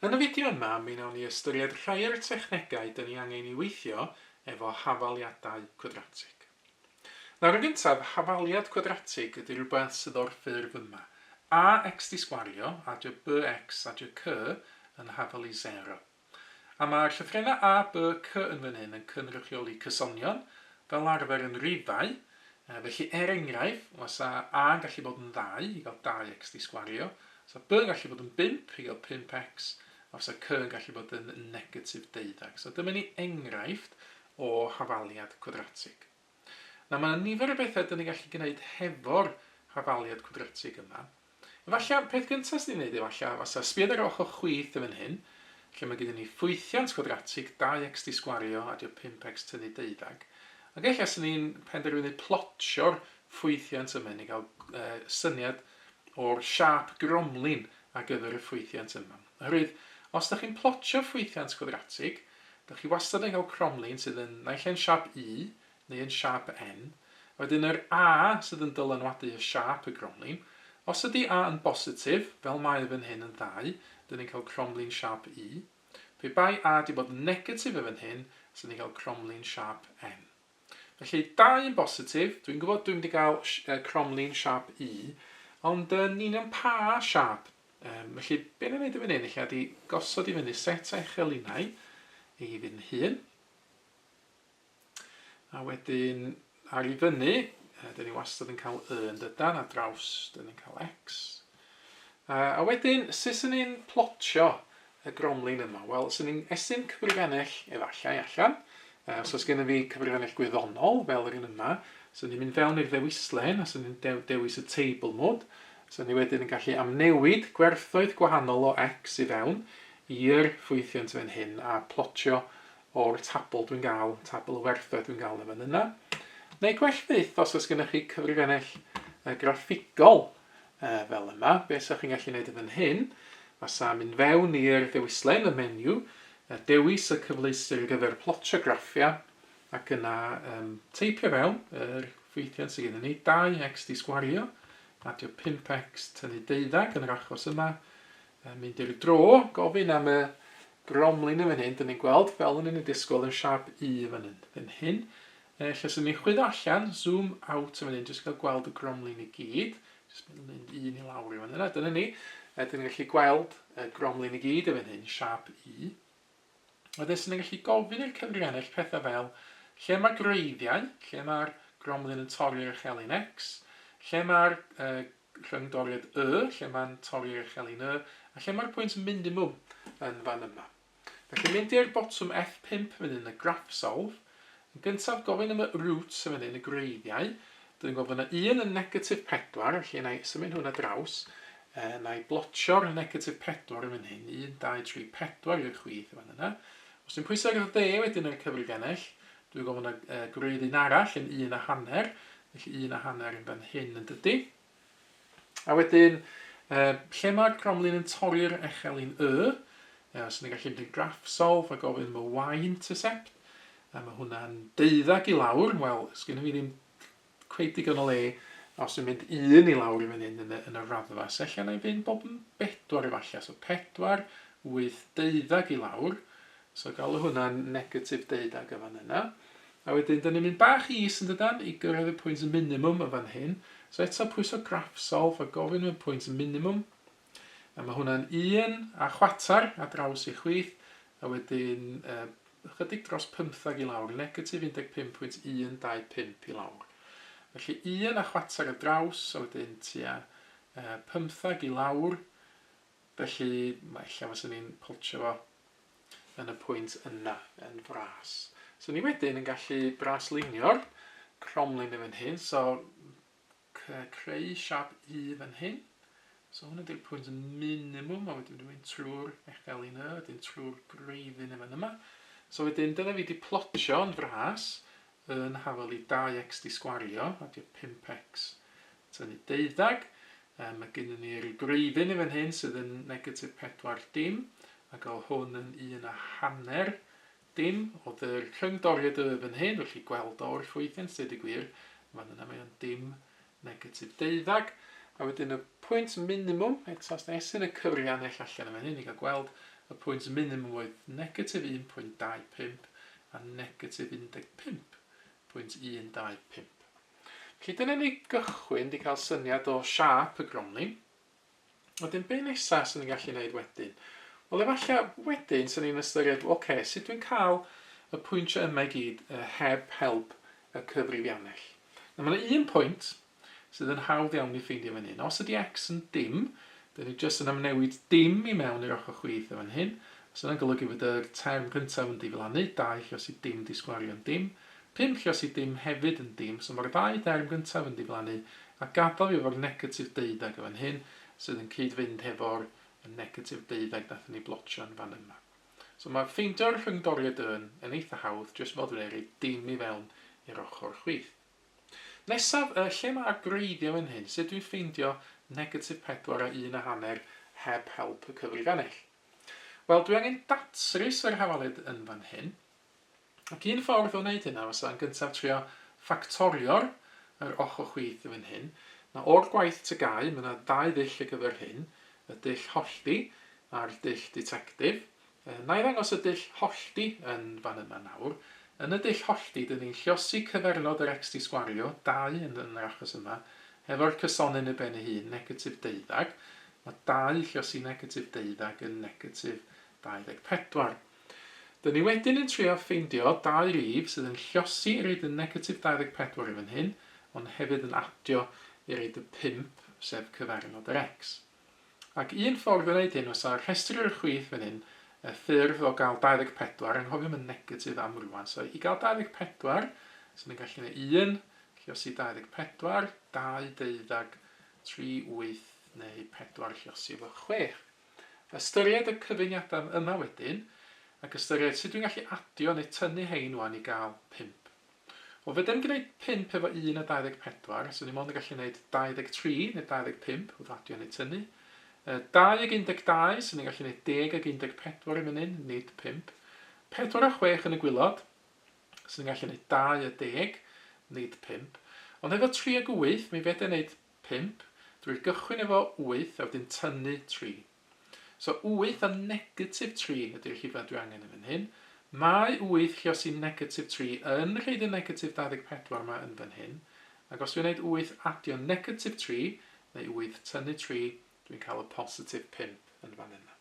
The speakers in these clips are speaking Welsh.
Yn y fideo yma, mi wnawn ni ystyried rhai o'r technegau dyn ni angen i weithio efo hafaliadau cwadratig. Nawr yn gyntaf, hafaliad cwadratig ydy rhywbeth sydd o'r ffurf yma, ax di sgwario, adj bx adj cy yn hafal i 0. A mae'r llythrennau A, B, C yn fan hyn yn cynrychioli cysonion, fel arfer yn rifau, felly er enghraifft, fysa A yn gallu bod yn ddau i gael 2x di sgwario, fysa B yn gallu bod yn bump i gael 5x, a fysa C yn gallu bod yn negatif deuddeg. So dyma ni enghraifft o hafaliad cwadratig. Nawr, mae 'na nifer o bethe 'dan ni'n gallu gneud hefo'r hafaliad cwadratig yma. Efallai, peth gynta' 'swn i'n neud efallai fasa, sbia ar ochr chwith yn fan hyn, lle mae gyda ni ffwythiant cwadratig, 2x 'di sgwario a 'di o 5x tynnu deuddag, ac ella 'swn i'n penderfynu plotio'r ffwythiant yma i ni ga'l syniad o'r siâp gromlin ar gyfer y ffwythiant yma. Oherwydd, os dych chi'n plotio ffwythiant gwadratig, dych chi wastad yn cael cromlin sydd yn naill ai'n siâp U neu yn siâp N, a wedyn yr A sydd yn dylanwadu ar siâp y gromlin. Os ydy A yn bositif, fel mae e fan hyn yn ddau, dyn ni'n cael cromlin siâp U. Pe bai A 'di bod yn negatif e fan hyn, 'sen ni'n cael cromlin siâp N. Felly, dau yn bositif. Dwi'n gwybod dwi'n mynd i gael cromlin siap U, ond yn union pa siap? Um, felly, be ni'n gwneud i fyny, ella di gosod i fyny set eich elinau ei fyn hun. A wedyn, ar i fyny, dyn ni wastad yn cael Y yn dydan, a draws, dyn ni'n cael X. A wedyn, sut swn i'n plotio y gromlin yma? Wel, swn i'n estyn cyfrifennell efallai allan. Os oes gennym fi cyfrifennell gwyddonol, fel yr un yma, swn i'n mynd fewn i'r ddewislen a swn i'n dewis y Table Mode. Swn i wedyn yn gallu amnewid gwerthoedd gwahanol o X i fewn i'r ffwythiant fan hyn a plotio o'r tabl dwi'n gael, tabl y werthoedd dwi'n gael yn fan yna. Neu gwell fyth, os oes gennych chi cyfrifennell graffigol, Yy, fel yma. Be' 'sach chi'n gallu neud yn fan hyn, fasa mynd fewn i'r dewislen, y menu, yy dewis y cyfleuster ar gyfer plotio graffiau, ac yna yym teipio fewn yr ffwythiant sy gennyn ni, 2x di sgwario, adio 5x, tynnu deuddag yn yr achos yma, yy mynd i'r dro, gofyn am y bromlin yn fan hyn, 'dyn ni'n gweld, fel o'n i'n ei disgwyl, yn siâp U yn fan hyn, fan hyn. Neu ella 'swn i'n chwyddo allan, zoom out yn fan hyn, jyst i gael gweld y gromlin i gyd. Jyst mynd un i lawr i fan yna, dyna ni. A dyn ni'n gallu gweld y gromlin i gyd yn fan hyn, siap U. Wedyn 'swn i'n gallu gofyn i'r cyfrif ennill pethau fel lle mae gwreiddiau, lle mae'r gromlin yn torri'r echelin X, lle mae'r uh, rhyngdoriad Y, lle mae'n torri'r echelin Y, a lle mae'r pwynt minimum yn fan yma. Felly mynd i'r botwm F5 fan hyn yn y Graphsolve. Yn gyntaf gofyn am y roots yn fan hyn, y gwreiddiau. Dwi'n gweld fod yna un yn negatif 4, felly na i symud hwnna draws. E, na i blotio'r negatif 4 yn fan hyn, 1, 2, 3, 4 i'r chwith yn fan yna. Os dwi'n pwysau ar dde wedyn ar y cyfrifiannell, dwi'n gweld fod yna e, gwreidd un arall yn un a hanner, felly un a hanner yn fan hyn yn dydy. A wedyn, um, lle mae'r cromlin yn torri'r echelin y, uh, so ni'n gallu mynd i'r graph solve a gofyn am y y-intercept, a mae hwnna'n deuddag i lawr, wel, sgynny fi ddim cweith digon o le os dwi'n mynd un i lawr i fan hyn yn y, yn y raddfa, so allan na'i fynd bob yn bedwar efallai, so pedwar, wyth, deuddag i lawr, So galw hwnna'n negatif deuddeg yn fan yna. A wedyn, da ni'n mynd bach is yn dydan, i gyrraedd y pwynt minimum yn fan hyn. So eto pwyso graff solve a gofyn am y pwynt minimum. A mae hwnna'n un a chwater a draws i chwith. A wedyn, uh, ychydig dros 15 i lawr, negatif 15.125 i lawr. Felly un a chwater a draws, a wedyn tua uh, 15 i lawr, Felly, mae lle fyswn i'n poltsio fo yn y pwynt yna, yn fras. So ni wedyn yn gallu braslunio'r cromlin yn fan hyn, so creu siap i fan hyn. So hwn ydy'r pwynt minimum, a wedyn dwi'n trwy'r echel un y, wedyn trwy'r greiddyn yn fan yma. So wedyn, dyna fi wedi plotio yn fras, yn hafel i 2x di sgwario, a di o 5x. tynnu deuddag. Yy mae gynnon ni ryw dreifyn i fan hyn sydd yn negatif pedwar dim, ac o hwn yn un a hanner dim. Oedd yr cyngdoriad y fan hyn, felly gweld o wrth weithio yn syd y gwir, fan yna mae o'n dim negatif deuddag. A wedyn y pwynt minimum, eto os da esyn y cyfrianell allan yn fan hyn, ni gael gweld y pwynt minimum oedd negatif 1.25 a negatif 15.125. Cyd yn enni gychwyn di cael syniad o siâp y gronyn. Wedyn be nesa sy'n ni'n gallu neud wedyn? Wel efallai wedyn sy'n ni'n ystyried ok sut dwi'n cael y pwyntiau yma i gyd heb help y cyfrifiannell. Nawr mae yna un pwynt sydd yn hawdd iawn i ffeindio fan hyn. Os ydy x yn dim, dyn ni jyst yn amnewid dim i mewn i'r ochr chwith fan hyn. Os yna'n golygu fod yr term gyntaf yn diflannu, 2 lle os i dim di sgwario'n dim, Pum lluos i dim hefyd yn dim, so mae'r ddau derm gyntaf yn diflannu, a gadael fi efo'r negatif deuddeg yn fan hyn, sydd yn cyd-fynd hefo'r negatif deuddeg wnaethon ni blotio yn fan yma. So mae ffeindio'r rhyngdoriad yn yn eitha hawdd, jyst fel dwi'n ei roi dim i fewn i'r ochr chwith. Nesaf, yy, lle mae'r gwreiddiau fan hyn? Sut dwi'n ffeindio negatif pedwar a un a hanner heb help y cyfrifanell? Wel, dwi angen datrys yr hafaliad yn fan hyn. Ac un ffordd o wneud hynna fysa yn gyntaf trio ffactorio'r yr ochr chwith yn fan hyn. Mae o'r gwaith tygau, mae 'na ddau ddull ar gyfer hyn, y dull hollti a'r dull ditectif. Yy, wna i ddangos y dull hollti yn fan yma nawr. Yn y dull hollti, 'dyn ni'n lluosi cyfernod yr ecst i sgwario, dau yn yn yr achos yma, hefo'r cysonyn i ben ei hun, negatif deuddag. Mae dau lluosi negatif deuddag yn negatif 24. Dyn ni wedyn yn trio ffeindio dau rif sydd yn llosi i reid y negatif 24 yn fan hyn, ond hefyd yn adio i reid y 5, sef cyfeirnod yr X. Ac un ffordd o wneud hyn fysa rhestru'r chwith fan hyn, y ffurf o gael 24, anghofiwm y negatif am rŵan, so i gael 24, so ni'n gallu gwneud 1, llosi 24, 2 deuddag, 3 wyth, neu 4 llosi efo chwech. Ystyried y cyfuniadau yma wedyn, ac ystyried sut dwi'n gallu adio neu tynnu hein wan i gael pump. Wel, fedra i'm gwneud pump efo un a 24, so ni mond yn gallu gwneud 23 neu 25 wrth adio neu tynnu. Yy, 2 ag 12, so ni'n gallu gwneud 10 ag 14 i fyny'n, nid pump. 4 a chwech yn y gwylod, so ni'n gallu gwneud 20, nid pump. Ond efo tri ag wyth, mi fedra i wneud Pump, drwy gychwyn efo wyth a wedyn tynnu tri. So wyth a negatif tri ydy'r rhifau dwi angen yn fan hyn. Mae wyth lluos i negatif tri yn rhoid y negatif 24 ma yn fan hyn, ac os dwi'n neud wyth adio negatif tri, neu wyth tynnu tri, dwi'n cael y positif pump yn fan yna.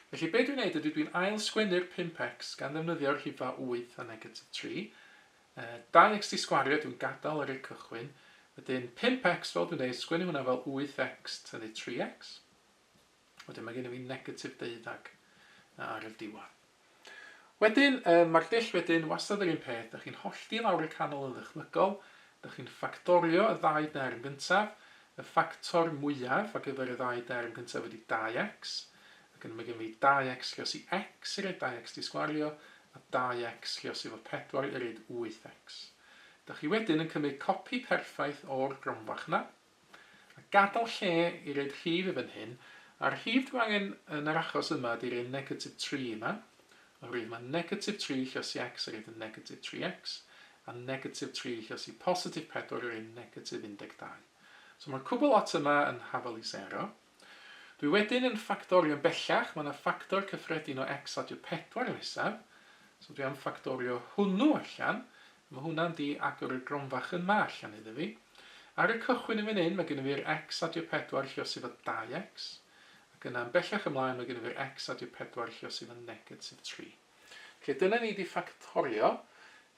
Felly be dwi'n neud ydy dwi'n ail-sgwennu'r pump x gan ddefnyddio'r rhifau wyth a negatif tri, Dau ext i sgwario, dwi'n gadal ar y cychwyn. Wedyn pump ext, fel dwi'n deud, sgwennu hwnna fel wyth ext, hynny tri ext. Wedyn mae gennym ni negatif deuddag ar y diwedd. Wedyn, mae'r dull wedyn wastad yr un peth, da chi'n hollti lawr y canol yn ddychmygol, da chi'n ffactorio y ddau derm gyntaf, y ffactor mwyaf ar gyfer y ddau derm gyntaf ydy dau ext, Ac yna mae gennym ni dau x lluos i x irid dau x disgwario a dau x lluos i fod pedwar irid wyth x. Da chi wedyn yn cymryd copi perffaith o'r gromfach yna, a gadael lle i roid rhif i fan hyn, a'r rhif dwi angen yn yr achos yma ydy'r un negatif tri yma, oherwydd mae negatif tri lluos i x irid yn negatif tri x, a negatif tri lluos i positif pedwar irid yn negatif un deg dau. So mae'r cwbl lot yma yn hafal i sero. Dwi wedyn yn ffactorio bellach, mae 'na ffactor cyffredin o X adio 4 nesaf, so dwi am ffactorio hwnnw allan, a mae hwnna'n di agor y gronfach yma allan iddo fi. Ar y cychwyn yn fan hyn, mae gennym fi'r X adio 4 lle os efo 2X, ac yna yn bellach ymlaen mae gennym fi'r X adio 4 lle os efo negatif 3. Felly dyna ni 'di ffactorio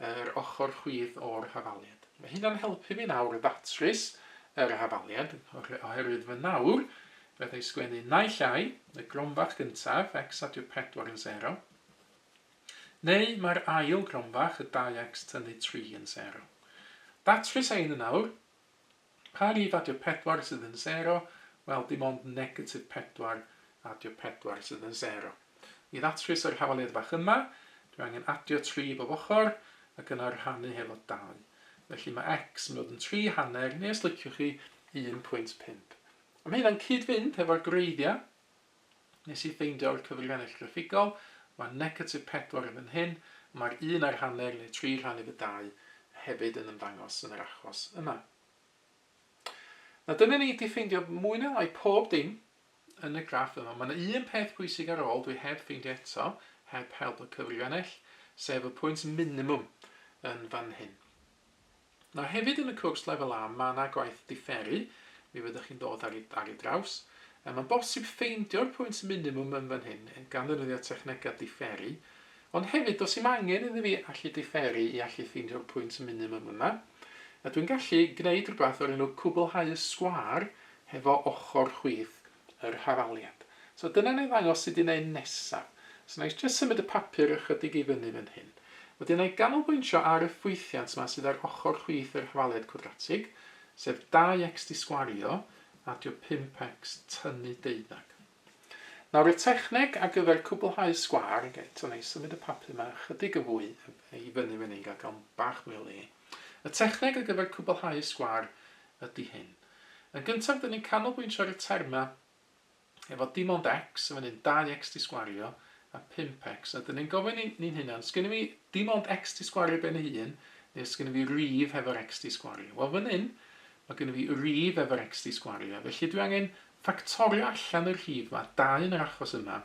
yr ochr chwith o'r hafaliad. Mae hynna'n helpu fi nawr ddatrys yr hafaliad oherwydd fy nawr fedra i sgwennu naill ai y gromfach gyntaf, x adio 4 yn 0, neu mae'r ail gromfach, y 2x tynnu 3 yn 0. Datrys ein yn nawr. Pa rif adio pedwar sydd yn sero? Wel, dim ond negatif pedwar adio pedwar sydd yn sero. I ddatrys yr hawaliad fach yma, dwi angen adio tri bob ochr ac yna rhannu hefo dau. Felly mae x yn dod yn tri hanner, neu os liciwch chi, 1.5. A mae hynna'n cyd-fynd hefo'r gwreiddiau. Nes i ffeindio'r cyfrgennell graffigol, mae negatif pedwar yn fan hyn, a mae'r un a'r hanner neu tri rhan efo dau hefyd yn ymddangos yn yr achos yma. Na dyna ni, di ffeindio mwy neu lai pob dim yn y graff yma. Mae yna un peth pwysig ar ôl dwi heb ffeindio eto, heb help y cyfrgennell, sef y pwynt minimum yn fan hyn. Nawr hefyd yn y cwrs lefel A mae yna gwaith diferu, mi fyddwch chi'n dod ar ei, ar ei draws. Yy mae'n bosib ffeindio'r pwynt minimwm yn fan hyn gan ddefnyddio technegau diferu, ond hefyd does dim angen iddi fi allu diferu i allu ffeindio'r pwynt minimwm yma. A dwi'n gallu gwneud rhywbeth o'r enw cwblhau y sgwâr hefo ochr chwith. yr hafaliad. So dyna wna i ddangos sut i wneud nesaf. So wna i jyst symud y papur ychydig i fyny fan hyn. Wedyn wna i ganolbwyntio ar y ffwythiant yma sydd ar ochr chwith yr hafaliad cwadratig, sef 2x disgwario, adio 5x tynnu deuddag. Nawr y techneg ar gyfer cwblhau sgwâr, ac eto wna i symud y papur yma ychydig yn fwy i fyny fan hyn gael gael bach mwy o le. Y techneg ar gyfer cwblhau sgwâr ydy hyn. Yn gyntaf dyn ni'n canolbwyntio ar y termau efo dim ond X, efo un 2X di sgwario a 5X, a dyn ni'n gofyn i ni'n hunan, sgynna fi dim ond X di sgwario ben ei hun, neu sgynna fi rif hefo'r X di sgwario? Wel fan hyn, mae gynna fi rif efo'r X di sgwario, felly dwi angen ffactorio allan y rhif yma, 2 yn yr achos yma,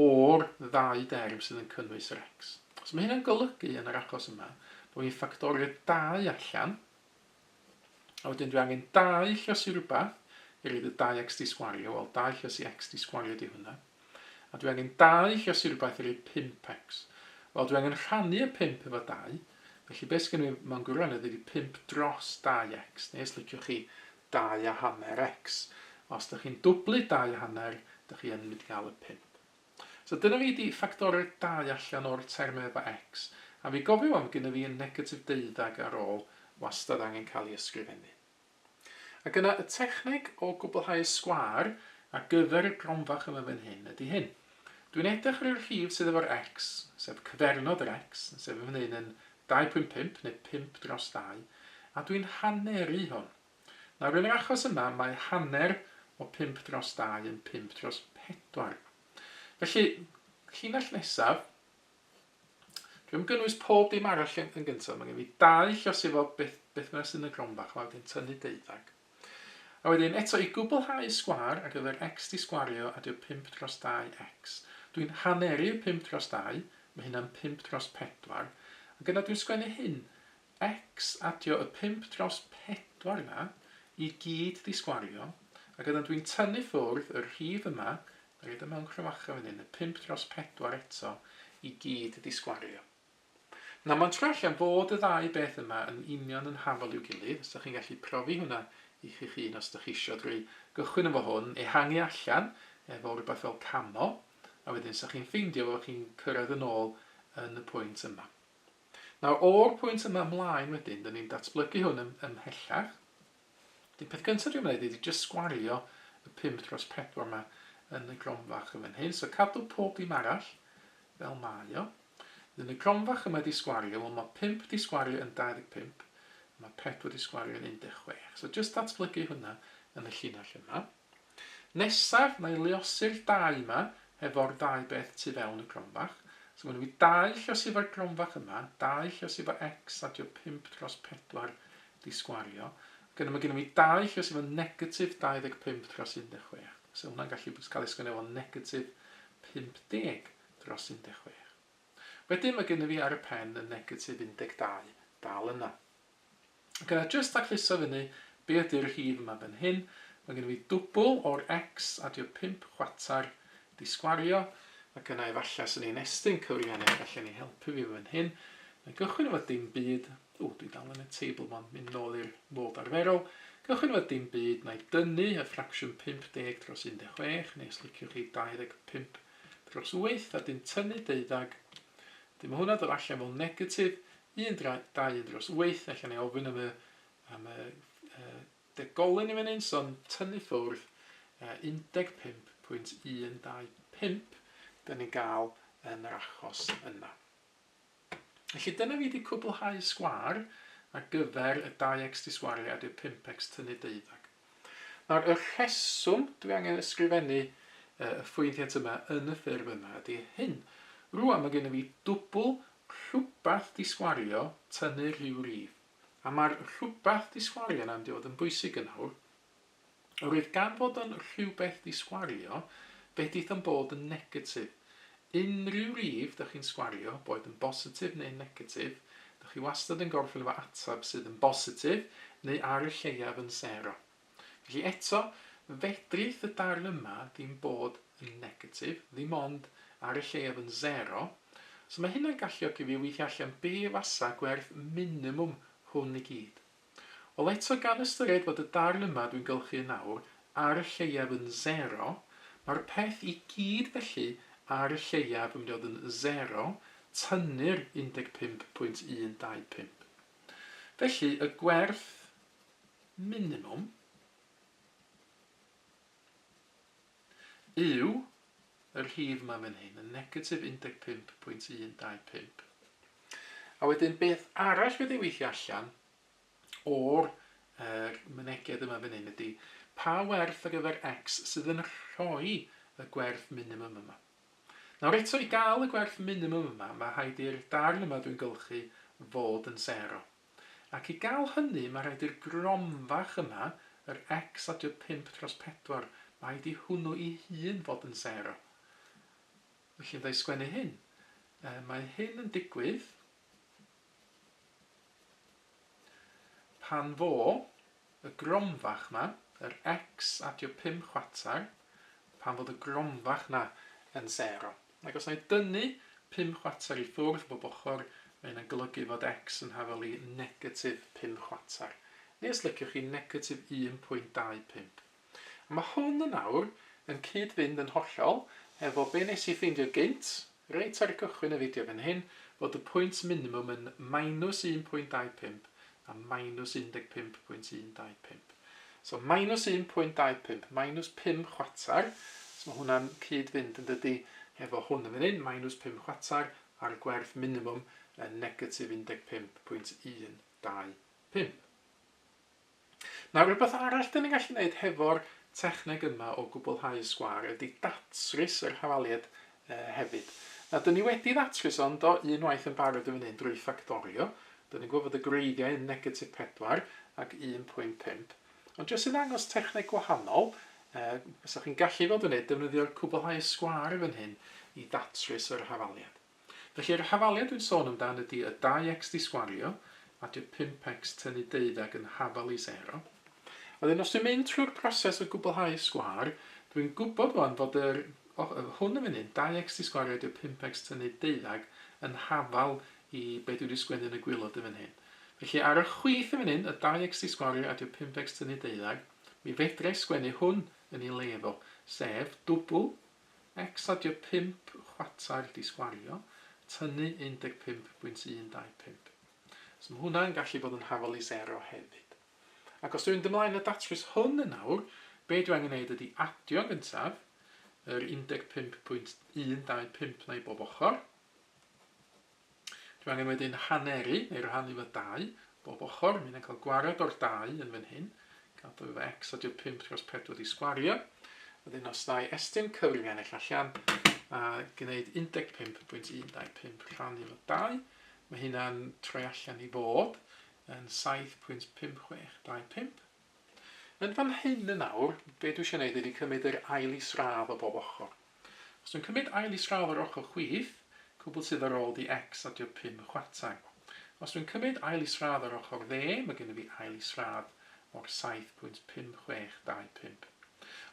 o'r ddau derm sydd yn cynnwys yr X. So mae hynna'n golygu yn yr achos yma, bod fi'n ffactorio 2 allan, A wedyn dwi angen dau llysi rhywbeth i roed y dau x di sgwario, wel dau llysi x di sgwario di hwnna. A dwi angen dau llysi rhywbeth i roed 5x. Wel dwi angen rhannu y 5 efo 2, felly beth sgynno fi mewn gwirionedd ydi 5 dros 2x, neu os liciwch chi 2 a hanner x. Os da chi'n dwblu 2 a hanner, da chi yn mynd i gael y 5. So dyna fi di ffactoreg dau allan o'r term efa X, a fi gofio wan fod gynna fi y negatif deuddag ar ol wastad angen cael i ysgrifennu. Ac yna y techneg o gwblhau y sgwâr ar gyfer y gronfach yma fan hyn ydi hyn. Dw i'n edrych ar y rhif sydd efo'r X, sef cyfernod yr X, sef yn fan hyn yn 2.5 neu 5 dros 2, a dw i'n haneru hwn. Nawr, yn yr achos yma, mae hanner o pump dros dau yn pump dros pedwar. Felly, llinell nesaf, dwi am gynnwys pob dim arall yn, yn gyntaf. Mae gen fi dau llos efo beth, beth bynnag sy'n y gronfa, chwa, wedyn tynnu deuddag. A wedyn, eto, i gwblhau y sgwar ar gyfer x di sgwario a dio 5 dros 2x. Dwi'n haneru 5 dros 2, mae hynna'n 5 dros 4. Ac yna dwi'n sgwennu hyn, Ecs adio y pump dros pedwar yna i gyd di sgwario ac oeddan dwi'n tynnu ffwrdd y rhif yma na roid o mewn cromacha fan hyn y pump dros pedwar eto i gyd di sgwario na ma'n trio allan fod y ddau beth yma yn union yn hafal i'w gilydd os da chi'n gallu profi hwnna i chi'ch hun os da chi isio drwy gychwyn efo hwn ehangu allan efo rwbath fel camo a wedyn sa chi'n ffeindio fo chi'n cyrraedd yn ôl yn y pwynt yma. Nawr, o'r pwynt yma ymlaen wedyn, dyn ni'n datblygu hwn yn, ymhellach. Dyn peth gyntaf dwi'n gwneud ydy jyst sgwario y 5 dros 4 yma yn y gronfach yn fan hyn. So cadw pob dim arall fel mae o. Dyn y gronfach yma di sgwario, wel mae 5 di sgwario yn 25, mae 4 di sgwario yn 16. So jyst datblygu hwnna yn y llinell yma. Nesaf na'i leosi'r dau 'ma hefo'r ddau beth tu fewn y gronfach. So ma' 'da fi dau llosi efo'r gronfach yma, dau llosi efo X a 'di o pump dros pedwar 'di sgwario. Ac yna ma' gynno fi dau llosi efo negatif dau ddeg pump dros un deg chwech. So hwnna'n gallu bod cael ei sgwennu fel negatif pump deg dros un deg chwech. Wedyn ma' gynno fi ar y pen y negatif un deg dau dal yna. Ok, a jyst tacluso fyny, be ydy'r rhif yma fan hyn? Mae gen i fi dwbl o'r X, adio pump chwarter, disgwario, ac yna efallai swn i'n estyn cyfrifennau y gallen ni helpu fi fan hyn. Mae gychwyn efo dim byd, o dwi dal yn y table mon, mynd nôl i'r modd arferol, gychwyn efo dim byd, na i dynnu y ffracsiwn 50 dros 16, neu os liciwch chi 25 dros 8, a dim tynnu deuddag, wedyn mae hwnna dod allan fel negatif, Un dra, dau un dros wyth, ella nai ofyn am y am y yy degolyn yn fan hyn, so yn tynnu ffwrdd yy 15.125 'dan ni'n ga'l yn yr achos yna. Felly dyna fi 'di cwblhau sgwâr ar gyfer y dau ecsdi sgwariad i'r pump ecst tynnu deuddag. Nawr, y rheswm dwi angen ysgrifennu y ffwythiant yma yn y ffurf yma ydy hyn. Rŵan mae gennyf fi dwbl rhywbeth disgwario tynnu rhyw rif, a mae'r rhywbeth disgwario yna mynd i fod yn bwysig yn awr. Yr oedd gan fod yn rhywbeth disgwario, fedith yn bod yn negatif. Unrhyw rif dych chi'n sgwario, boed yn bositif neu'n negatif, dych chi wastad yn gorffen efo ateb sydd yn bositif neu ar y lleiaf yn sero. Felly eto, fedrith y darn yma ddim bod yn negatif, ddim ond ar y lleiaf yn sero, so mae hynna'n galluogi fi weithio allan be fasa gwerth minimwm hwn i gyd. Wel eto gan ystyried fod y darn yma dwi'n gylchu yn awr ar y lleiaf yn sero, mae'r peth i gyd felly ar y lleiaf yn mynd i fod yn sero, tynnu'r 15.125. Felly y gwerth minimwm, Yw y rhif yma fan hyn yn negatif 15.125? A wedyn beth arall fydd ei weithio allan o'r er, myneged yma fan hyn ydy pa werth ar gyfer x sydd yn rhoi y gwerth minimum yma. Nawr eto, i gael y gwerth minimum yma, mae rhaid i'r darn yma dwi'n gylchu fod yn sero. Ac i gael hynny mae rhaid i'r grom fach yma, yr x adio pump dros pedwar, mae rhaid i hwnnw ei hun fod yn sero. Felly fydda i sgwennu hyn. Yy, mae hyn yn digwydd pan fo Y gromfach 'ma, yr X at your pum chwarter, pan fod y gromfach 'na yn sero. Ac os na i dynnu pum chwarter i ffwrdd bob ochr, mae hynna'n golygu fod X yn hafal i negatif pum chwarter, neu os liciwch chi negatif 1.25. Mae hwn yn awr yn cyd-fynd yn hollol efo be nes i ffeindio gynt, reit ar gychwyn y fideo fan hyn, fod y pwynt minimum yn minus 1.25 a minus 15.125. So minus 1.25, minus pum chwarter, so mae hwnna'n cyd-fynd yn dydi efo hwn yn fan hyn, minus pum chwarter a'r gwerth minimum yn negatif 15.125. Nawr, rhywbeth arall dan ni'n gallu wneud hefo'r techneg yma o gwblhau y sgwâr ydy datrys yr hafaliad hefyd. Nawr, dan ni wedi ddatrys o, yndo, unwaith yn barod yn fan hyn drwy ffactorio. Dan ni'n gweld fod y gwreiddiau yn negatif 4 ac 1.5. Ond jyst i ddangos techneg gwahanol, fysa chi'n gallu fod yn wneud defnyddio'r cwblhau y sgwâr yn fan hyn i ddatrys yr hafaliad. Felly'r hafaliad dwi'n sôn amdan ydy y 2x disgwario, a di'r 5x tynnu deuddag yn hafal i sero. A wedyn os dwi'n mynd trwy'r proses o gwblhau'r sgwâr, dwi'n gwybod wan fod yr, o, hwn yn fan hyn, 2x disgwario ydy'r 5x tynnu deuddag yn hafal i be dwi wedi sgwennu yn y gwilod yn fan hyn. Felly ar y chwith yn fan hyn, y 2x disgwario a di'r 5x tynnu deuddag, mi fedrai sgwennu hwn yn i le fo, sef dwbl X adio pump chwartail disgwario, tynnu 15.125. So mae hwnna'n gallu bod yn hafol i sero hefyd. Ac os dwi'n mynd ymlaen y datrys hwn yn awr, be dwi angen neud ydi adio yn gyntaf yr 15.125 'na i bob ochr, Dwi angen wedyn haneru neu rhannu fy dau bob ochr, mi na cael gwared o'r dau yn fan hyn, gadw efo x a dio 5 dros 4 di sgwario, wedyn os ddau estyn cyfrif ennill allan a gwneud 15.125 rhannu fo 2, mae hynna'n troi allan i fod yn 7.5625. Yn fan hyn yn awr, be dwi isio neud ydi cymyd yr ail isradd o bob ochr. Os dwi'n cymyd ail isradd o'r ochr chwith, cwbl sydd ar ôl di X adio pum chwarter. Os dwi'n cymyd ail isradd o'r ochr dde, mae gennyf fi ail isradd o'r saith pwynt pum chwech dau pump.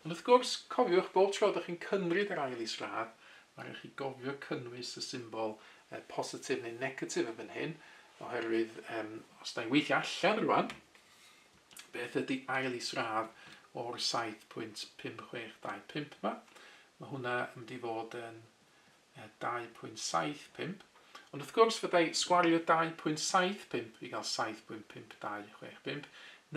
Ond wrth gwrs, cofiwch, bob tro dych chi'n cymryd yr ail isradd, mae rhaid chi gofio cynnwys y symbol positif neu negatif yn fan hyn, oherwydd os da ni'n weithio allan rwan, Beth ydy ail is-radd o'r 7.5625 'ma? Mae hwnna yn mynd i fod yn 2.75. Ond wrth gwrs, fydda i sgwario 2.75 i gael 7.5265,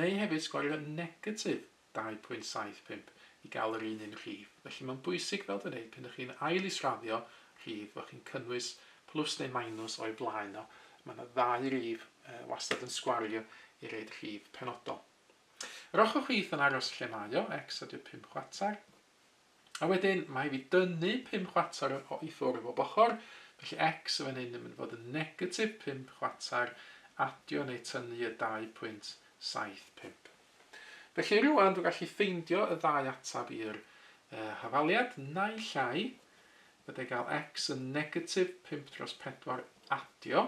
neu hefyd sgwario negatif 2.75 i gael yr un un rhif. Felly mae'n bwysig fel dwi'n dweud, pan ydych chi'n ail israddio rhif, bod chi'n cynnwys plws neu minws o'i blaen o. Mae yna ddau rif uh, wastad yn sgwario i reid rhif penodol. Yr ochr chwith yn aros lle mae o, x a 25 chwarter. A wedyn, mae fi dynnu pum chwater o i ffwrdd bob ochr, felly X yn fan hyn yn mynd fod yn negatif pump chwater, adio neu tynnu y dau pwynt saith pump. Felly rŵan dwi'n gallu ffeindio y ddau atab i'r uh, hafaliad, naill ai, fydde gael X yn negatif pump dros pedwar adio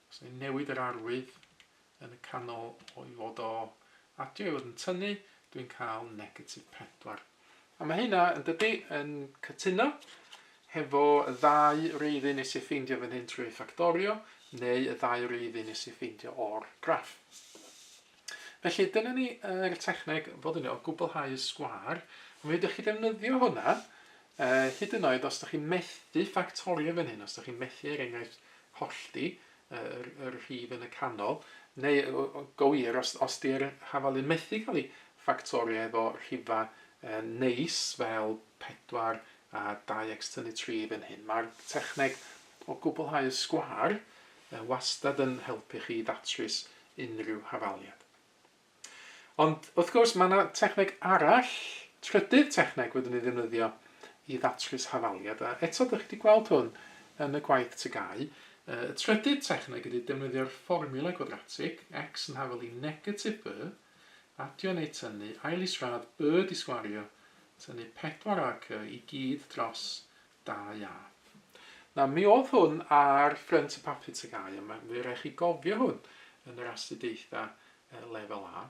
Os ni'n newid yr arwydd yn y canol o i fod o adio i fod yn tynnu, dwi'n cael negatif 4. A mae hynna, yn dydy, yn cytuno hefo y ddau reiddyn nes i ffeindio fan hyn trwy ffactorio, neu y ddau reiddyn nes i ffeindio o'r graff. Felly, dyna ni yr techneg fod yn o gwblhau y sgwar. Mi ydych chi ddefnyddio hwnna A hyd yn oed os dych chi'n methu ffactorio fan hyn, os dych chi'n methu er enghraifft hollti yr yr rhif yn y canol, neu go wir os os 'di'r hafalu methu cael ei ffactorio efo rhifa neis fel pedwar a dau ecs tynnu tri fan hyn, mae'r techneg o gwblhau y sgwâr wastad yn helpu chi i ddatrys unrhyw hafaliad. Ond, wrth gwrs, mae yna techneg arall, trydydd techneg fyddwn ni'n ddefnyddio i ddatrys hafaliad, a eto dych chi wedi gweld hwn yn y gwaith TGAU. Y trydydd techneg ydy defnyddio'r fformiwla gwadratig, x yn hafal i negatif b, adio neu tynnu, ail-is-radd, b disgwario, tynnu 4 ac y i gyd dros Da iawn. Na, mi oedd hwn ar Ffrynt y Papur Teg Au, a mae fe rai chi gofio hwn yn yr astudiaethau uh, lefel A.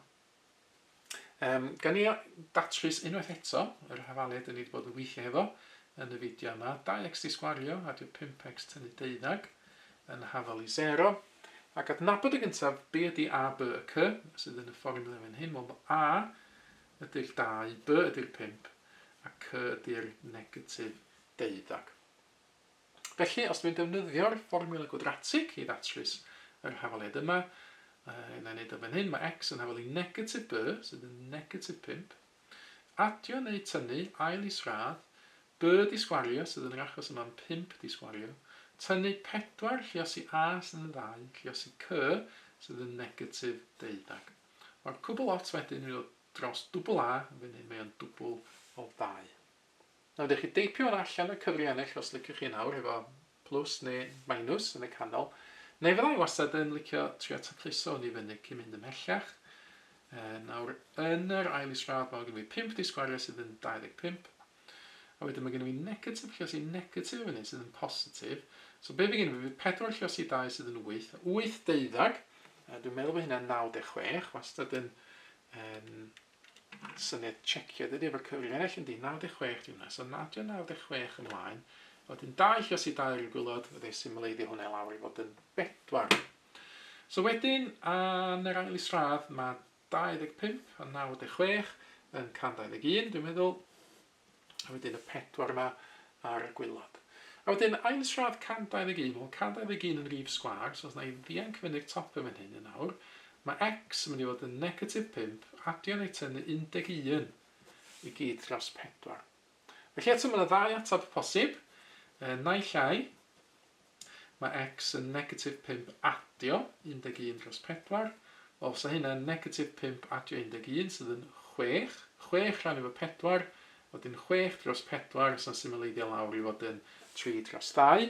Um, gan ni datrys unwaith eto yr hafaliad dyn ni wedi bod yn gweithio hefo yn y fideo yma. 2x disgwario, adio 5x tynnu deuddag yn hafal i 0. Ac adnabod y gyntaf, be ydy A, B a C sydd yn y fformiwla fan hyn? Wel, mae A ydy'r dau, B ydy'r pump, a C ydy'r negatif deuddag. Felly, os dwi'n defnyddio'r fformiwla gwadratig i ddatrys yr hafaliad yma, yy, na wneud o fan hyn, mae x yn hafal i negatif b, sydd yn negatif 5. Adio neu tynnu, ail isradd, b di sgwario, sydd yn yr achos yma'n 5 di sgwario, tynnu 4, lliosi a sydd yn 2, lliosi c, sydd yn negatif deuddag. Mae'r cwbl ots wedyn yn mynd dros dwbl A, yn fan hyn mae o'n dwbl o ddau. Nawr dewch chi deipio hwn allan o'r cyfri ennill os liciwch chi nawr, efo plws neu minws yn y canol. Neu fydda i wastad yn licio trio tacluso hwn i fyny cyn mynd ymhellach. E, nawr yn yr ail isradd mae gen fi 5 disgwariau sydd yn 25. A wedyn mae gennym fi negatif, lluosi negatif yn hyn sydd yn positif. So be fi gennym fi, fi 4 lluosi 2 sydd yn 8, 8 deuddag, a dwi'n meddwl bod hynna'n 96, wastad yn um, syniad checio, dydy efo'r cyfrif ennill yn di, 96 di hwnna, so nadio 96 ymlaen, a wedyn 2 lluosi 2 ar y gwylod, fe ddau symleiddio hwnna lawr i fod yn 4. So wedyn, yn yr ail isradd, mae 25 a 96 yn can 21 dwi'n meddwl, a wedyn y pedwar yma ar y gwaelod. A wedyn ail srad can 21, wel can 21 yn rif sgwâr, so os na i ddianc fyny'r top yn fan hyn yn awr, mae x yn mynd i fod yn negatif 5, adio neu tynnu 11 i gyd dros 4. Felly eto mae yna ddau ateb posib, yy naill ai mae x yn negatif pump adio 11 dros pedwar, wel fysa hynna'n negatif pump adio 11 sydd yn chwech, chwech rhannu efo pedwar, wedyn chwech dros pedwar os na symleiddio lawr i fod yn tri dros ddau,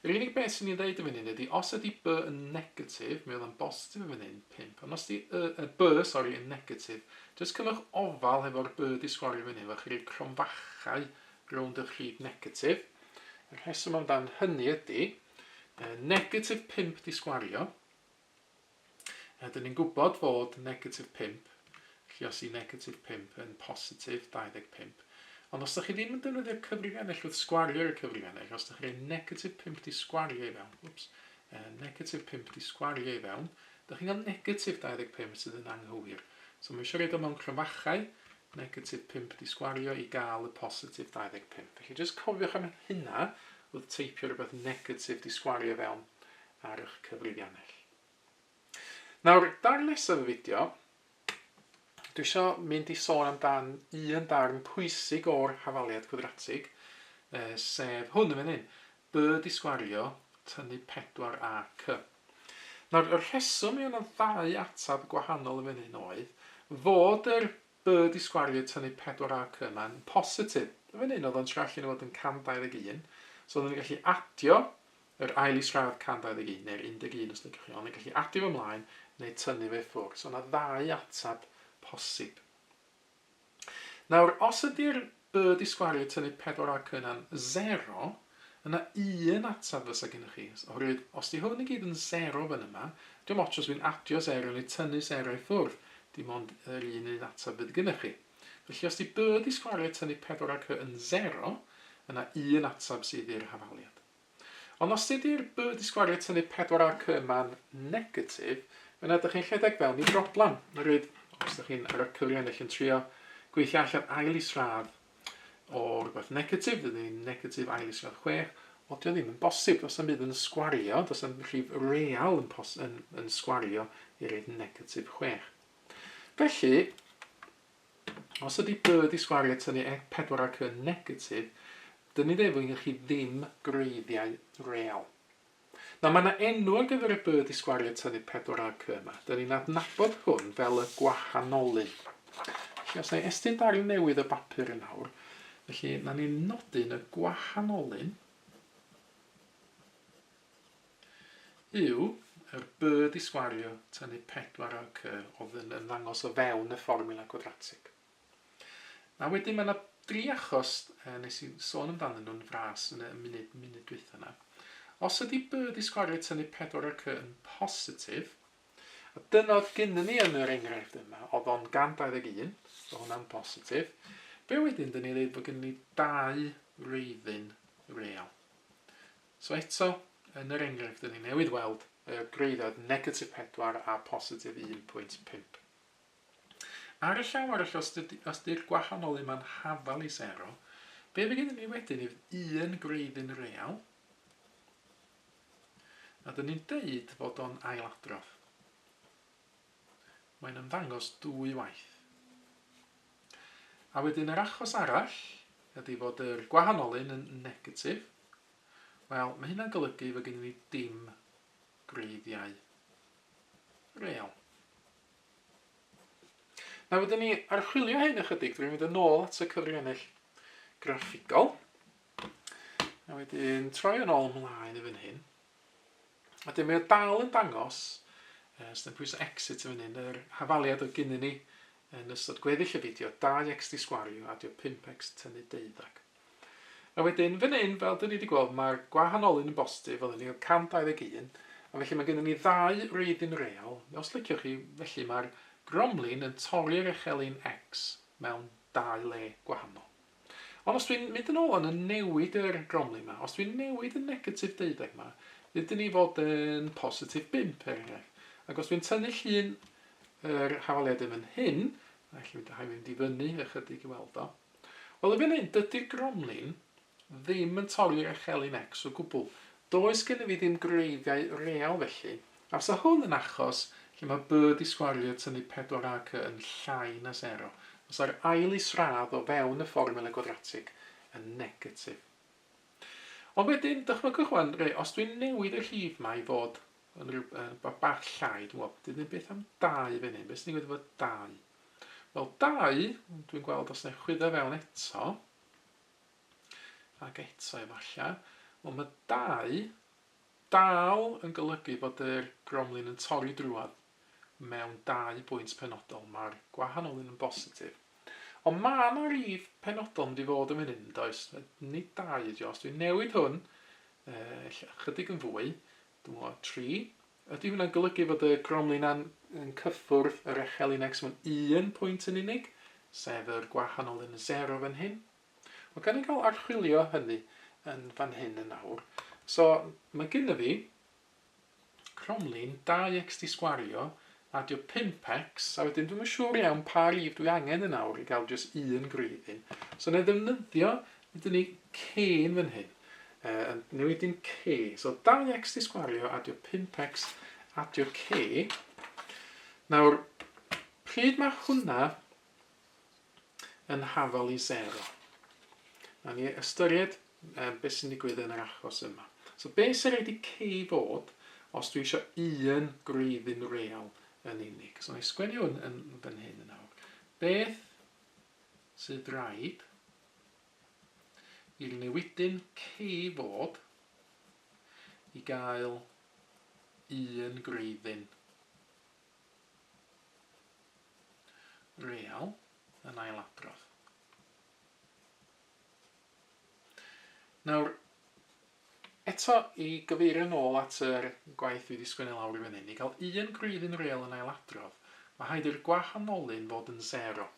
Yr unig beth sy'n ei ddeud yn fan hyn ydy os ydy by yn negatif, mae o dda'n bositif yn fan hyn, 5, ond os ydy y, y by, sori, yn negatif, jyst cynnwch ofal hefo'r by di sgorio fan hyn, fel chi roi cromfachau rownd y rhyd negatif. Y rheswm amdan hynny ydy, uh, negatif 5 di sgwario, Rydyn ni'n gwybod fod negatif 5, felly os yw negatif 5 yn positif 25, ond os ydych chi ddim yn defnyddio'r cyfrif ennill wrth sgwario ar y cyfrif ennill, os ydych chi'n rhoi negatif 5 di sgwario i fewn, wps, uh, negatif 5 di sgwario i fewn, ydych chi'n cael negatif 25 sydd yn anghywir. So mae eisiau rhaid o mewn cryfachau, negatif 5 di sgwario i gael y positif 25. Felly jyst cofiwch am hynna wrth teipio rhywbeth negatif di sgwario fewn ar eich cyfrifiannell. Nawr, darlles y fideo, dwi eisiau mynd i sôn amdan un darn pwysig o'r hafaliad gwadratig, uh, sef hwn yn fan hyn, by disgwario tynnu 4 a cy. Nawr, y rheswm i yna ddau ateb gwahanol yn fan hyn oedd fod yr by disgwario tynnu 4 a cy yma'n positif. Yn fan hyn, oedd o'n trallu yn fod yn 121, so oedden ni'n gallu adio Yr ail isradd 121 neu'r 11 os liciwch chi, ond yn gallu adio fo mlaen neu tynnu fe i ffwrdd. So yna ddau ateb posib. Nawr, os ydy'r y di sgwario i tynnu pedwar ac yna'n zero, yna un ateb fysa gennych chi, oherwydd os di hwn i gyd yn zero fan yma, diom ots os dwi'n adio zero neu tynnu zero i ffwrdd, dim ond yr un un ateb fydd gennych chi. Felly os di y di sgwario i tynnu pedwar ac yn zero, yna un ateb sydd i'r hafaliad. Ond os dydi'r by di sgwario tynnu pedwar ar cy ma'n negatif, yna dych chi'n rhedeg fewn i broblam. Ryd, os dych chi'n ar y cyri ennill yn trio gweithio allan ail isradd o rhywbeth negatif, dydy ni'n negatif ail isradd chwech, o dio ddim yn bosib, does am byd yn sgwario, does am rhif real yn, pos, yn, yn sgwario i ryd negatif chwech. Felly, Os ydy dy ddisgwariad tynnu ec pedwar ac yn negatif, dyn ni ddefwydd i chi ddim gwreiddiau real. Nawr, mae yna enw ar gyfer y dy ddisgwariad tynnu pedwar ac yn yma. Dyn ni'n adnabod hwn fel y gwahanolyn. Felly, os na i estyn darn newydd o bapur yn awr, felly na ni'n nodyn y gwahanolyn Yw, yr byrd i sgwario, tynnu pedwar ar cy, oedd yn ymddangos o fewn y fformiwla cwadratig. A wedyn mae yna dri achos e, nes i sôn amdanyn nhw'n fras yn y munud, munud dwytha yna. Os ydy byrd i sgwario tynnu pedwar ar cy yn positif, a dyna oedd gynnu ni yn yr enghraifft yma, oedd o'n 121, oedd hwnna'n positif, be wedyn dyn ni ddeud bod gynnu ni dau reiddyn real. So eto, yn yr enghraifft dyn ni newydd weld y gwreiddiad negatif 4 a positif 1.5. Ar y llaw arall, os, dydy, os dy'r gwahanol un ma'n hafal i sero, be fe gyda ni wedyn yw un gwreiddyn real, a dyn ni'n deud fod o'n ailadrodd. Mae'n ymddangos dwy waith. A wedyn yr achos arall ydy fod yr gwahanolun yn negatif. Wel, mae hynna'n golygu fod gennym ni dim gwreiddiau real. Na wedyn ni archwilio hyn ychydig drwy fynd yn ôl at y cyfrifennill graffigol. A wedyn troi yn ôl ymlaen i fan hyn. Wedyn mae o dal yn dangos, uh, os ydym pwysau exit yn fan hyn, yr hafaliad oedd gynnu ni yn ystod gweddill y fideo, 2x di sgwario a dio 5x tynnu deuddag. A wedyn, fan hyn, fel dyn ni wedi gweld, mae'r gwahanolun yn bostif, fel ni o 121, a felly mae gennym ni ddau reiddyn real. Os liciwch chi, felly mae'r gromlin yn torri'r echelin x mewn dau le gwahanol. Ond os dwi'n mynd yn ôl yn y newid yr gromlin ma, os dwi'n newid y negatif deuddeg ma, fydd dyn ni fod yn positif bump er enghraifft. Ac os dwi'n tynnu llun yr hafaliad yn fan hyn, a lle mynd, rhaid mynd i fyny ychydig i weld o. Wel, y fan hyn, dydy'r gromlin ddim yn torri'r echelin X o gwbl. Does gen i fi ddim gwreiddiau real felly, A fysa hwn yn achos lle mae byrd i sgwario tynnu pedwar a cy yn llai na sero, fysa'r ail is-radd o fewn y fformiwla gwadratig yn negatif. Ond wedyn, dychmygwch wan, re, os dwi'n newid y rhif ma i fod yn rhyw, yn ba- bach llai, dwi'n gwybod, dyn ddim beth am dau fan hyn, beth sy'n gwneud efo dau? Wel, dau, dwi'n gweld os na chwyddo fewn eto, ac eto efallai, wel mae dau Dal yn golygu bod yr gromlin yn torri drwodd mewn dau bwynt penodol, mae'r gwahanol un yn bositif. Ond mae yna rif penodol yn mynd i fod yn fan hyn, yn does? Nid dau ydi o, os dwi'n newid hwn, uh, chydig yn fwy, dwi'n meddwl, tri. Ydy hwnna'n golygu fod y gromlin yn, yn cyffwrdd yr echel un x mewn un pwynt yn unig, sef yr gwahanol un yn sero fan hyn? Wel, gawn ni gael archwilio hynny yn fan hyn yn awr. So, mae gynna fi cromlin 2x di sgwario, adio 5x, a wedyn dwi'n siŵr iawn pa rif dwi angen yn awr i gael jyst un gwreiddyn. So, na i ddefnyddio, ydyn ni cyn fan hyn. Uh, yn newidyn c. So, 2x di sgwario, adio 5x, adio c. Nawr, pryd mae hwnna yn hafal i sero. Nawn ni ystyried um, beth sy'n digwydd yn yr achos yma. So be sy'n rhaid i K fod os dwi eisiau un gwreiddyn real yn unig? So na i sgwennu hwn yn fan hyn yn awr. Beth sydd rhaid i'r newidyn K fod i gael un gwreiddyn real yn ailadrodd. Nawr, eto i gyfeirio nôl at yr gwaith dwi wedi sgwennu lawr i fyny, ni gael un grwyddyn real yn ailadrodd, mae haid i'r gwahanolun fod yn 0.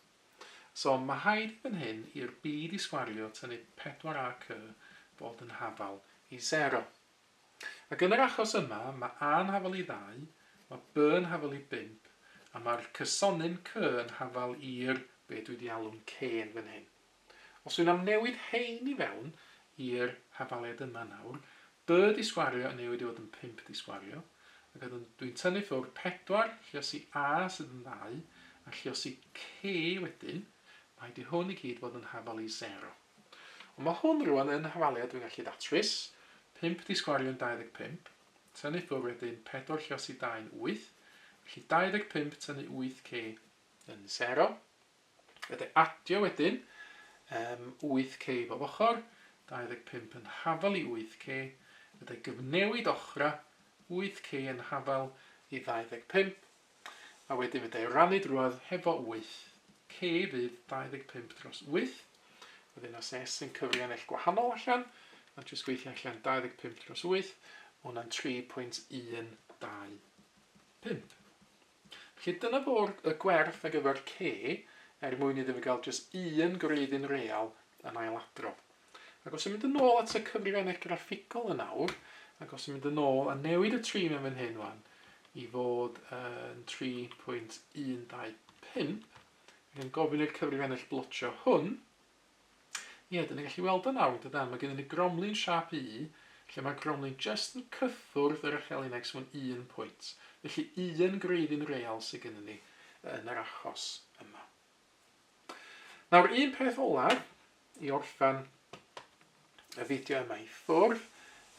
So mae haid i fan hyn i'r byd i sgwario tynnu 4ac fod yn hafal i 0. Ac yn yr achos yma, mae A yn hafal i ddau, mae B yn hafal i bump, a mae'r cysonyn C yn hafal i'r, be dwi 'di alw'n K yn fan hyn. Os dwi'n amnewid hein i fewn i'r hafaliad yma nawr, B disgwario yn newid i fod yn pump disgwario, ac wedyn dwi'n tynnu ffwr pedwar, lluosi A sydd yn ddau, a lluosi C wedyn, mae 'di hwn i gyd fod yn hafal i sero. Ond mae hwn rŵan yn hafaliad dwi'n gallu datrys, pump di sgorio'n 25, tynnu ffwr wedyn pedwar lluosi dau'n wyth, felly 25 tynnu wyth k yn sero. Wedi adio wedyn um, wyth k bob ochr, 25 yn hafal i wyth k, wedi gyfnewid ochra, wyth k yn hafal i 25, A wedyn fedra i rannu drwodd hefo wyth. C fydd 25 dros wyth. Wedyn os S yn cyfri anell gwahanol allan, a jyst gweithio allan 25 dros wyth, ma' hwnna'n 3.125. Felly dyna fo'r y gwerth ar gyfer C, er mwyn iddo fe gael jyst un gwreiddyn real yn ailadrodd. Ac os yn mynd yn ôl at y cyfrifennau graffigol yn awr, ac os yn mynd yn ôl a newid y tri mewn fan hyn wan, i fod yn 3.125, ac yn gofyn i'r cyfrifennell blotio hwn, ie, dyn ni'n gallu weld yn awr, dydan, mae gennym ni gromlin siap U, lle mae gromlin just yn cyffwrdd yr echelu'n X mewn un pwynt. Felly un gwreiddyn real sydd gennym ni yn yr achos yma. Nawr, un peth olaf i orffen y fideo yma i ffwrdd,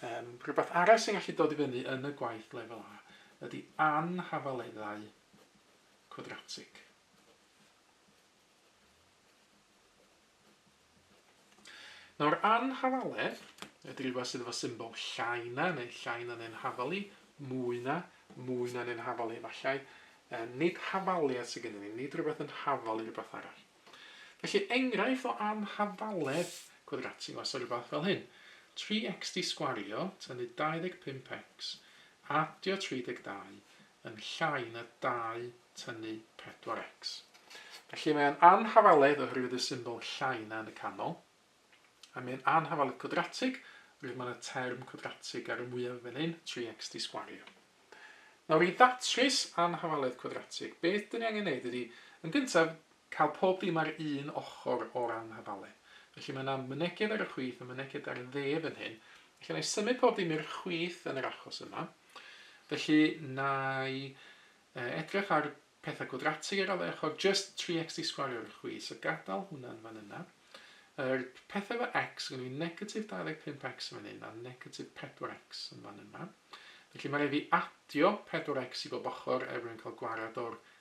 um, rhywbeth arall sy'n gallu dod i fyny yn y gwaith lefel A ydy anhafaleddau cwadratig. Nawr, anhafaledd ydy rhywbeth sydd efo symbol llai na, neu llai na neu'n hafalu, mwy na, mwy na neu'n hafalu efallai. Um, nid hafaliad sydd gennym ni, nid rhywbeth yn hafalu rhywbeth arall. Felly, enghraifft o anhafaledd cwadratig was o rhywbeth fel hyn. 3x di sgwario, tynnu 25x, adio 32, yn llai na dau tynnu 4x. Felly mae o'n anhafaledd oherwydd y symbol llai na yn y canol, a mae o'n anhafaledd cwadratig oherwydd mae yna term cwadratig ar y mwyaf fan hyn, 3x di sgwario. Nawr i ddatrys anhafaledd cwadratig, beth dyn ni angen neud ydy, yn gyntaf, Cael pob dim ar un ochr o'r anhafalen. Felly mae 'na myneged ar y chwith a myneged ar y dde fan hyn. Felly na'i symud pob dim i'r chwith yn yr achos yma. Felly na'i uh, edrych ar pethau gwadratig ar ôl ochr, just 3x di sgwario ar y chwith. So gadael hwnna'n fan yna. Yr pethau efo x, gynnu i negatif 25x yn fan hyn a negatif 4x yn fan yma. Felly mae rhaid fi adio 4x i bob ochr er mwyn cael gwared o'r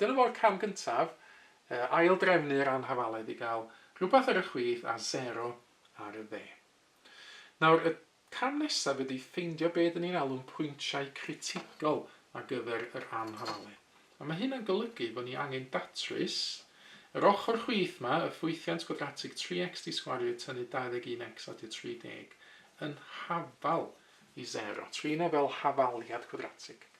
Dyna fo'r cam gyntaf, ail-drefnu'r anhafaledd i gael rhywbeth ar y chwith a sero ar y dde. Nawr, y cam nesaf ydy ffeindio be dyn ni'n alw'n pwyntiau critigol ar gyfer yr anhafaledd. A mae hyn yn golygu bod ni angen datrys yr ochr chwith ma, y ffwythiant gwadratig 3x di sgwario tynnu 21x a tua 30 yn hafal i sero. Trin e fel hafaliad cwadratig.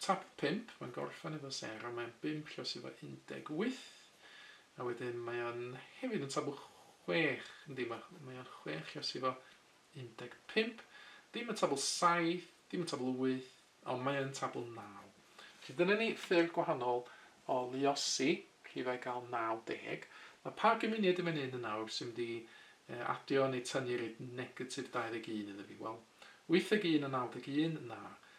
Top 5, mae'n gorffen efo Sarah, mae o'n bump lle sydd efo 18, a wedyn mae o'n hefyd yn tabl chwech, yndi, mae mae o'n chwech lle sydd efo 15, ddim yn tabl saith, ddim yn tabl wyth, ond mae yn tabl naw. Felly dyna ni ffyrdd gwahanol o luosi rhifau gael 90. Mae pa gymuniad i fan hyn yn awr sy'n mynd i adio neu tynnu reit negatif 21 iddo fi? Wel, 81 a 91, na.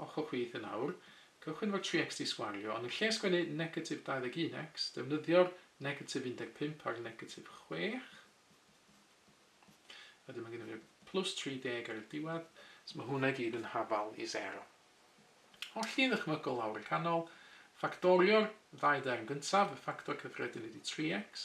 Os hoffech chi yn awr, cychwyn efo tri xt sgwario, ond yn lle sgwennu negatif 21x, defnyddio'r negatif 15 a'r negatif 6. Wedyn mae gennym ni'r plus 30 ar y diwedd. So mae hwnna i gyd yn hafal i 0. Hollti ddychmygol lawr y canol, ffactorio'r ddau derm gyntaf, y ffactor cyffredin ydy 3x,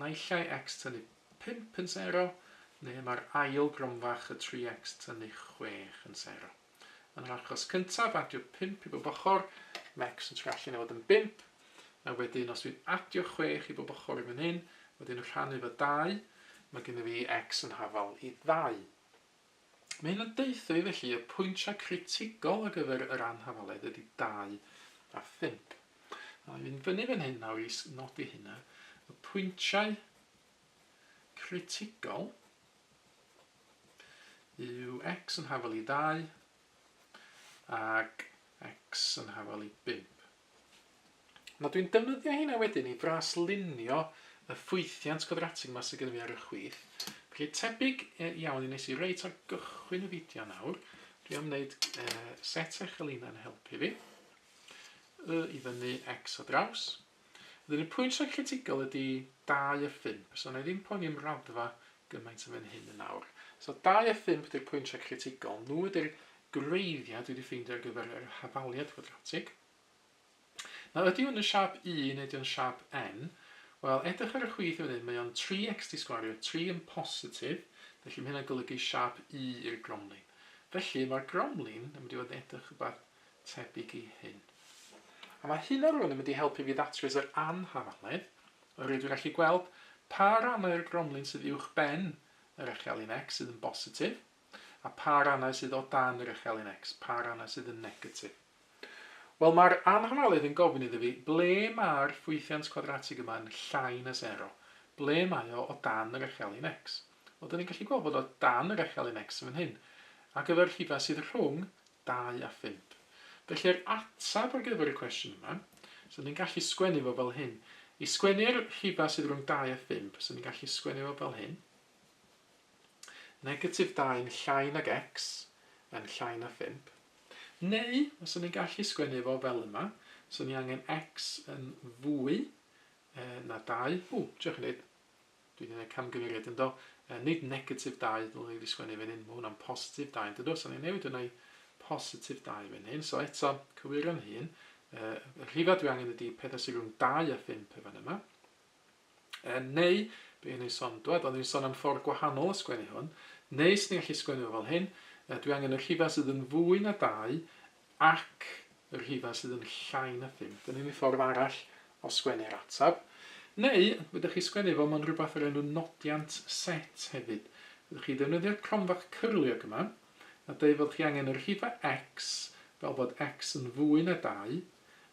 naill ai X tynnu pump yn sero, neu mae'r ail gronfach y tri X tynnu chwech yn sero. Yn yr achos cyntaf, adio pump i bob ochr, mae X yn trio allan i fod yn bump, a wedyn os dwi'n adio chwech i bob ochr i fan hyn, wedyn rhannu fo dau, mae gennyf fi X yn hafal i ddau. Mae hyn yn deutha i felly y pwyntiau critigol ar gyfer yr anhafaledd ydy dau a phump. Wna i fynd fyny fan hyn nawr i nodi hynna. Y pwyntiau critigol yw x yn hafal i ddau ac x yn hafal i bump. Nawr dwi'n defnyddio heina wedyn i fraslunio y ffwythiant gwadratig yma sydd gen i fi ar y chwith. Felly tebyg e, iawn i nes i reit ar gychwyn y fideo nawr. Dwi am wneud e, set eich elina yn helpu fi. Y i fyny x o draws. Ydyn y pwynt sy'n critigol ydy 2 a 5. So na i ddim poeni am raddfa gymaint yn fan hyn yn nawr. So 2 a 5 ydy'r pwynt sy'n critigol. Nhw ydy'r gwreiddiau dwi 'di ffeindio ar gyfer yr hafaliad cwadratig. Nawr ydy hwn yn siâp U neu ydy o'n siâp N? Wel, edrych ar y chwith yn fan hyn, mae o'n 3x di sgwario, 3 yn positif, felly mae hynna'n golygu siâp U i'r gromlin. Felly, mae'r gromlin yn mynd i fod yn edrych rhywbeth tebyg i hyn. A mae hynna rwan yn mynd i helpu fi ddatrys yr anhafaledd, oherwydd dwi'n gallu gweld pa rannau o'r gromlin sydd uwch ben yr echelin x sydd yn bositif, A pha rannau sydd o dan yr echelin X? Pa rannau sydd yn negatif? Wel, mae'r annormaledd yn gofyn iddo fi, ble mae'r ffwythiant cwadratig yma yn llai na sero? Ble mae o o dan yr echelin X? Wel, dyn ni'n gallu gweld bod o dan yr echelin X yn fan hyn, ar gyfer y rhifau sydd rhwng 2 a 5. Felly, yr ateb ar gyfer y cwestiwn yma, so ni'n gallu sgwennu fo fel hyn. I sgwennu'r rhifau sydd rhwng 2 a 5, so ni'n gallu sgwennu fo fel hyn. Negatif dau yn llai nag X yn llai na phump. Neu, fyswn i'n gallu sgwennu fo fel yma, 'swn i angen X yn fwy na dau. Ww, diolch yn neud. Dwi wedi gwneud camgymeriad yn do. Nid negatif dau ddylwn i wedi sgwennu fan hyn, mae hwnna'n positif dau yn dydw, so ni'n newid hwnna i positif dau fan hyn. So eto, cywir yn hun, y rhifau dwi angen ydy pethau sy'n rhwng dau a phump y fan yma. Yn neu, be o'n i'n son, dwad, o'n i'n son am ffordd gwahanol o sgwennu hwn, neu swn i'n gallu sgwennu fo fel hyn, yy, dwi angen y rhifau sydd yn fwy na dau ac y rhifau sydd yn llai na phump. Dyna ni ffordd arall o sgwennu'r ateb. Neu, fedrwch chi sgwennu fo mewn rhywbeth o'r enw nodiant set hefyd. Fedrwch chi ddefnyddio'r cromfa cyrliog yma, nad ei fod chi angen yr rhife X fel bod X yn fwy na 2,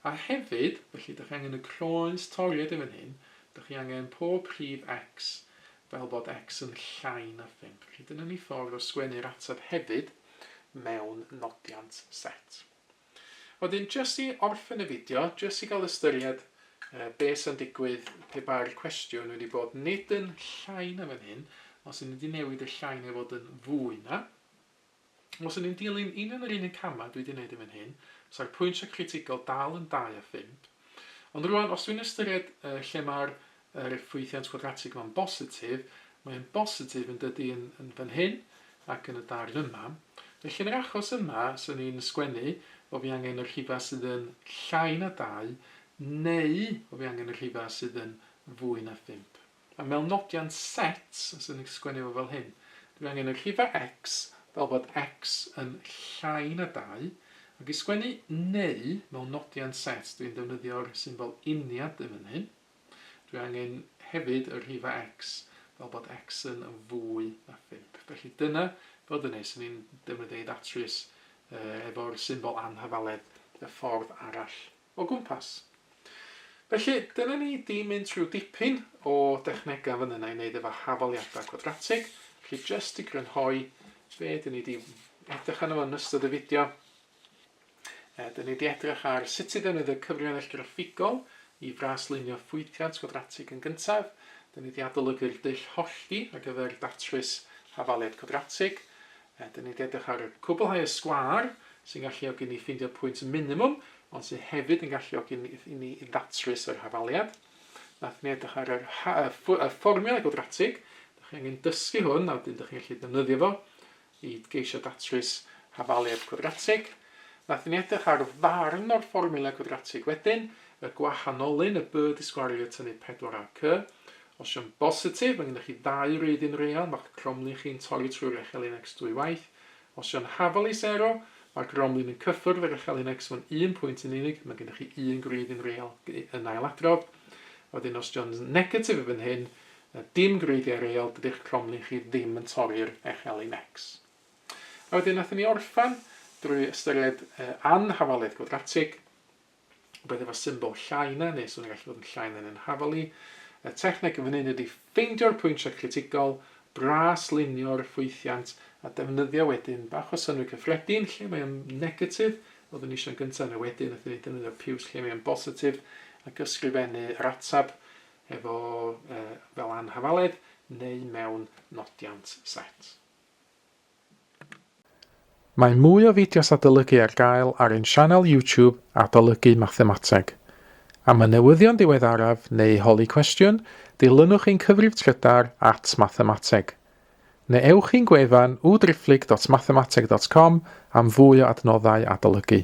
a hefyd, felly, dych chi angen y croes toriad yn fan hyn, dych chi angen pob rhif X fel bod X yn llai na 5. Felly dyna ni ffordd o sgwennu'r ateb hefyd mewn nodiant set. Wedyn jyst i orffen y fideo, jyst i gael ystyried be sy'n digwydd pe bai'r cwestiwn wedi bod nid yn llai na fan hyn, os o'n i wedi newid y llai neu fod yn fwy na. Os o'n i'n dilyn union yr un un camau dwi wedi gwneud yn fan hyn, sa'r pwyntiau critigol dal yn 2 a phump. Ond rwan, os dwi'n ystyried lle mae'r Yr yw ffwythiant quadratig yma'n bositif? Mae o'n bositif yn dydi yn yn fan hyn ac yn y darn yma. Felly yn yr achos yma, swn i'n sgwennu bo' fi angen y rhifau sydd yn llai na dau neu bo' fi angen y rhifau sydd yn fwy na phump. A mewn nodiant set, swn i'n sgwennu fo fel hyn. Dw i angen y rhifau x fel bod x yn llai na dau, ac i sgwennu neu mewn nodiant set dw i'n defnyddio'r symbol uniad yn fan hyn. Dwi angen hefyd y rhifa X fel bod X yn fwy na 5. Felly dyna fel dyne, sy'n ni'n defnyddio ei ddatrys efo'r symbol anhafaledd y ffordd arall o gwmpas. Felly, dyna ni di mynd trwy dipyn o dechnegau fan yna i wneud efo hafaliadau cwadratig. Felly, jyst i grynhoi, be dyn ni di edrych arno fo yn ystod y fideo, Dyn ni wedi edrych ar sut i ddefnyddio cyfrinail graffigol i fraslunio ffwythiant gwadratig yn gyntaf. Dyn ni wedi adolygu'r dull hollti ar gyfer datrys hafaliad cwadratig. Dyn ni wedi edrych ar cwblhau y sgwâr sy'n galluogi ni ffeindio pwynt minimwm ond sydd hefyd yn galluogi i ni ddatrys yr hafaliad. Nath ni edrych ar yr y fformiwla gwadratig. Dych chi angen dysgu hwn a wedyn dych chi'n gallu defnyddio fo. i geisio datrys hafaliad cwadratig. Wnaethon ni edrych ar ddarn o'r fformiwla gwadratig wedyn, y gwahanolyn y by disgwariad tynnu 4ac. Os yw'n bositif, mae gennych chi ddau wreiddyn real, mae'ch cromlin chi'n torri trwy'r echelin x dwy waith. Os yw'n hafal i sero, mae'r gromlin yn cyffwrdd yr echelin x mewn un pwynt yn unig, mae gennych chi un gwreiddyn real yn ailadrodd. Wedyn, os yw'n negatif i fan hyn, Na dim gwreiddiau real dydi'ch cromlin chi ddim yn torri'r echel i necs. A wedyn nathon ni orffen drwy ystyried yy anhafaliaeth gwadratig, rwbeth efo symbol llai na neu so fe'n gallu bod yn llai na neu'n hafal i. Y techneg yn fan hyn ydi ffeindio'r pwyntiau critigol, braslunio'r ffwythiant a defnyddio wedyn bach o synnwyr cyffredin lle mae o'n negatif, oeddwn ni isio'n gynta' yna wedyn nathon ni defnyddio piws lle mae o'n bositif ac ysgrifennu yr atab efo fel anhafaledd neu mewn nodiant set. Mae mwy o fideos adolygu ar gael ar ein sianel YouTube Adolygu Mathemateg. Am y newyddion diweddaraf neu holi cwestiwn, dilynwch ein cyfrif trydar at Mathemateg. Neu ewch i'n gwefan www.driphlyg.mathemateg.com am fwy o adnoddau adolygu.